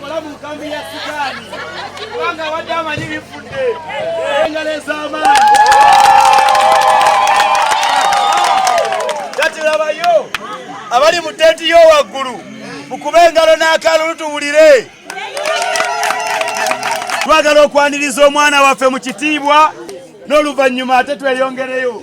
kola mu nkambi ya sitaani kubanga wadde amanyi bifudde engalo ez'amaanyi kati labayo abali mu tenti yo waggulu mukuba engalo n'akalulu tuwulire twagala okwaniriza omwana waffe mu kitiibwa n'oluvannyuma ate tweyongereyo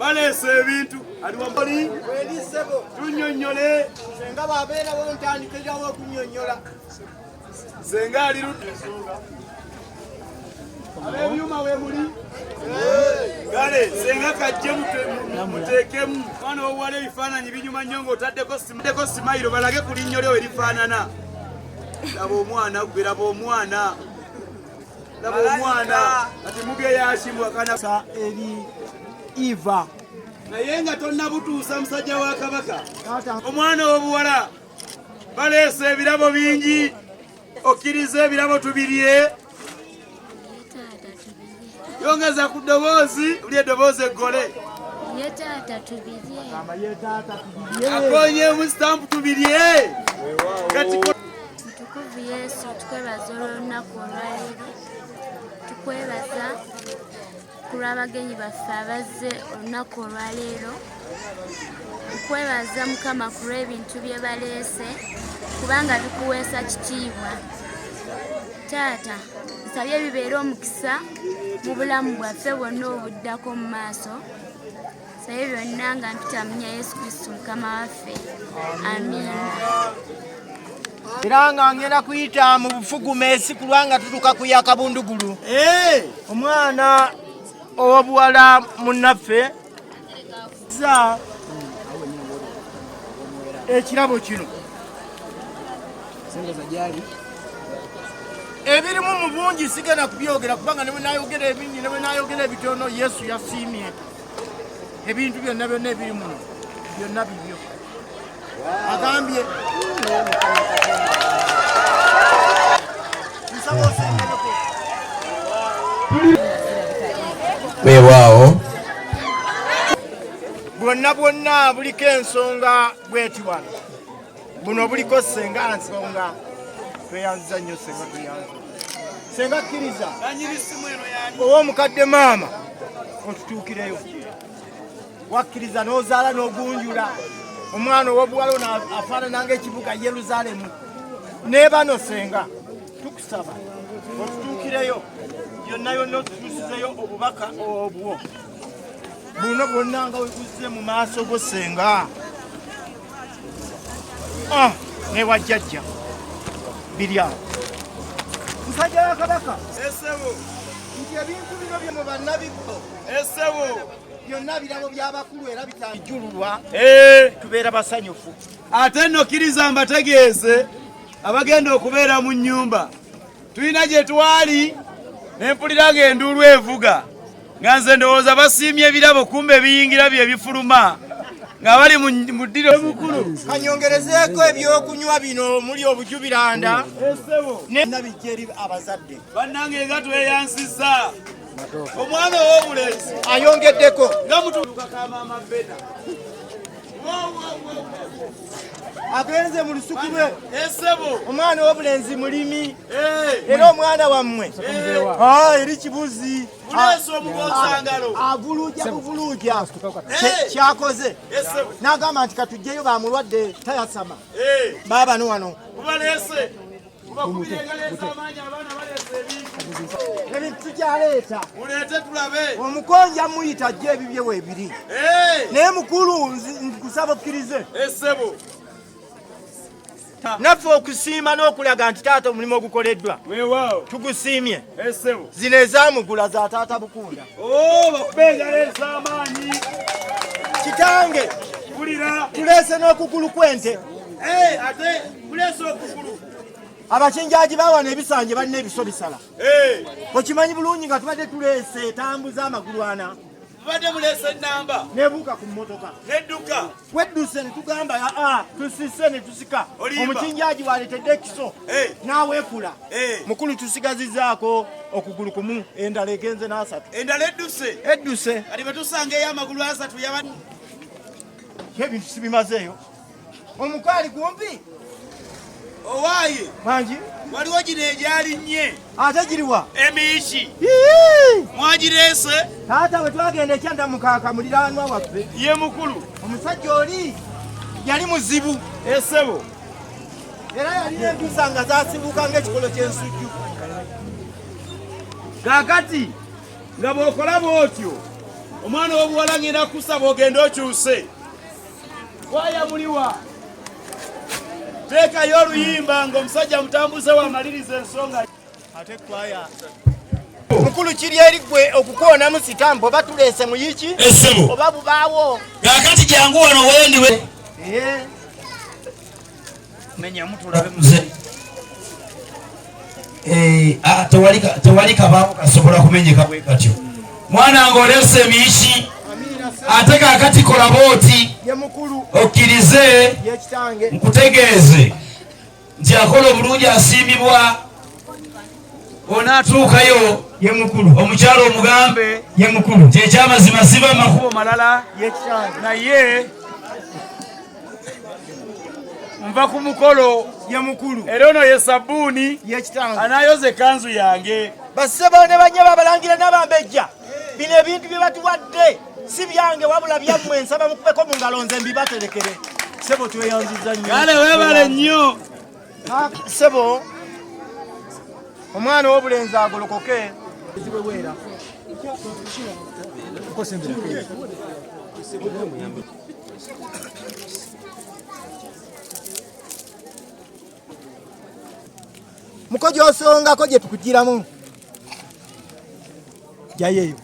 baleese ebintu aliwamoli welisebo tunyonyole senga babeerawo ntandikirawo okunyonyola senga ali abebyuma wemuli kale senga kajje muteekemu mwana owuwala ebifaananyi binyuma nnyo ngaotaddeko simuddeko simayiro balage ku linnyo lyo erifaanana laba omwana gwe laba omwana laba omwana kati mubyeyakimwakanasa eri eva naye nga tonnabutuusa musajja wa kabaka omwana w'obuwala baleese ebirabo bingi okkiriza ebirabo tubirye yongeza ku ddoboozi buli eddoboozi eggole akonyeemu sitampu tubirye Mtukuvu Yesu tukwebaza olw'olunaku olwaleero tukwebaza ku lw'abagenyi baffe abazze olunaku olwaleero nkwebaza mukama ku lw'ebintu bye baleese kubanga bikuweesa kitiibwa taata nsabye bibeere omukisa mu bulamu bwaffe bwonna obuddako mu maaso saye byonna nga mpita munya yesu kristu mukama waffe amiina era nga ngenda kuyita mu bufugume esi kulwanga tutuka ku yakabundugulu eh! omwana owobuwala munnaffe za ekirabo kino ebirimu mu bungi sigenda kubyogera kubanga ne bwenayogera ebingi ne bwenayogera ebitono yesu yasiimye ebintu byonna byonna ebiri muno byonna bibyo agambye weewaawo bwonna bwonna buliko ensonga bweti wano buno buliko senga nsonga tweyanziza nnyo senga tweyanza senga kkiriza owa omukadde maama otutuukireyo wakkiriza n'ozaala n'ogunjula omwana owobuwala ono afaanana ngaekibuga yerusaalemu ne bano senga tukusaba otutuukireyo yonna yonna otutuusizeyo obubaka obwo buno bwonna nga wekuzze mu maaso go senga Ah, newa jjajja biri awo musajja wa kabaka esebo nti ebintu bino byono bannabibbo esebo byonna birabo by'abakulu era bitanjululwa eh. tubeera basanyufu ate nno kkiriza mbategeeze abagenda okubeera mu nnyumba tulina gye twali ne mpulira ng'enduulu evuga nga nze ndowooza basiimye ebirabo kumba ebiyingira bye bifuluma nga bali mu ddiro mukulu kanyongerezeeko ebyokunywa bino omuli obujubiranda nabijja eri abazadde bannange nga tweyansiza omwana ow'obulenzi ayongeddeko nga mutuuka ka maama bena agenze mu lusuku lwe omwana w'obulenzi mulimi eh. era omwana wammwe eh. ah, eri kibuzi avuluja ah, ah, buvuluja eh. kyakoze n'agamba nti katujjeyo bamulwadde tayasama baabano wano tukyaleeta muleete tulabe omukonja muyita ajja ebibye webiri naye mukulu nkusaba okkirize esebo naffe okusiima n'okulaga nti taata omulimu ogukoleddwa tugusiimye zino ezamugula za taata bukunda oh, kitange tuleese n'okugulu kw'ente abakinjaji bawana ebisanje balina ebiso bisala eh. okimanyi bulungi nga tubadde tuleese etambuza amagulu ana mubadde muleese enamba nebuuka ku mmotoka nedduka wedduse netugamba aa ah, ah, tusise netusika omukinjaji waletedde ekiso eh. nawekula eh. mukulu tusigazizaako okugulu kumu endala egenze nasatu endala edduse edduse kati betusanga eyamagulu asatu yaba ebintu sibimazeeyo omuko ali kumpi owaaye mangi waliwo gino egyalinnye ate giriwa emiiki mwagireese taata bwe twagenda ekyanda mukaaka muliraanwa waffe ye mukulu omusajja oli yali muzibu esebo era yalina empisa nga zasibuka ng'ekikolo ky'ensujju kaakati nga bw'okola bw'otyo omwana w'obuwala ng'enda kusaba ogende okyuse wayabuliwa teekayo oluyimba ng'omusajja mutambuze wamaliriza ensonga ate kwaya mukulu kiri eri gwe okukuwonamu sitambo oba tuleese muyiki oba bubaawo kakati jangu wano wendiwe Eh, ah, tewali kabaawo kasobola kumenyeka bwe katyo mwana nga olese emiiki ate kakati kola booti okkirize nkutegeeze nti akola obulungi asiimibwa onaatuukayo ye mukulu omukyalo omugambe ye mukulu kyekyamazima siba makubo malala naye nva ku mukolo ye mukulu era ono ye sabbuuni yekitange anayoza ekanzu yange basebo ne banyaba abalangira n'abambejja bino ebintu bye batuwadde si byange wabula byammwe nsaba mukubeko mu ngalo nze mbibaterekere sebo tweyanziza nnyo kale webale nnyo sebo omwana w'obulenzi agolokoke muko gyosongako gye tukugiramu jayeyo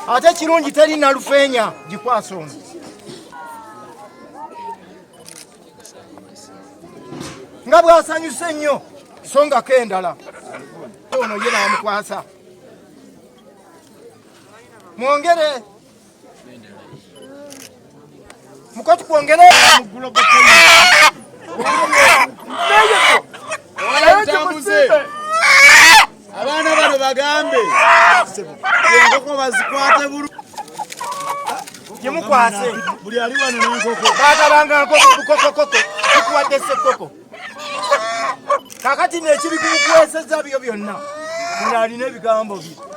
ate kirungi teri nalufeenya gikwasa ono nga bwasanyuse nnyo so ngako endala ono ye namukwasa Mwongere mko tukuongere abaana bano bagambe enkoko bazikwate bulu gimukwase buli ali wano nenkoko bagalanga nkoko bukokokoko tukuwadde sekoko kakati nekiri kumukweseza byo byonna nalina ebigambo bye